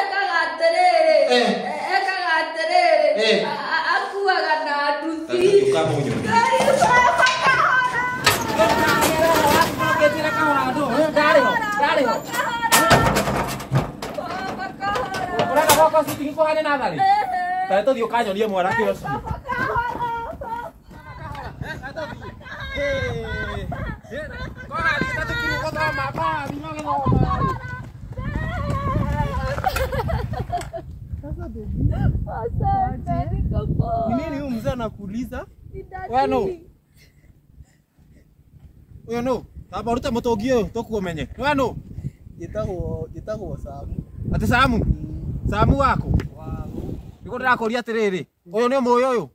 ekaga atĩrĩrĩ Eh. ekaga atĩrĩrĩ Eh. a- a- akuaga na nduthi Ũraga gwakwa citi nĩ kũhane natharĩ? Tare tũthiĩ ũkanyonie mwana kĩoci. Ni nini huyu mzee anakuuliza? Wewe no. Wewe no. Taba ruta mũtũngi ũyũ tũkuomenye. Wewe no. Njĩtagwo njĩtagwo Samu. Ati Samu. Samu wako. Nĩguo ndĩrakũria atĩrĩrĩ. Ũyũ nĩ mũĩ ũyũ.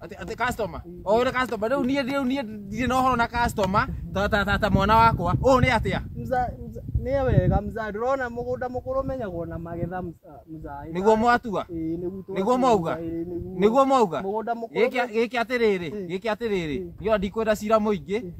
ati ati customer o ira customer riu nie riu nie ndirĩ na ũhoro na customer ta ta ta, ta mwana wakwa ũũ nĩ atĩa Mza- mza- nĩ wega mzaa ndĩrona mũgũnda mũkũrũ menyagwo na magetha mza- mzaa nĩguo mwatua Ĩĩ, nĩguo twa- nĩguo mwauga? Ĩĩ, nĩguo. nĩguo mwauga mũgũnda mũkũrũ gĩkĩ gĩkĩ atĩrĩrĩ gĩkĩ atĩrĩrĩ nĩo ndikwenda cira mũingĩ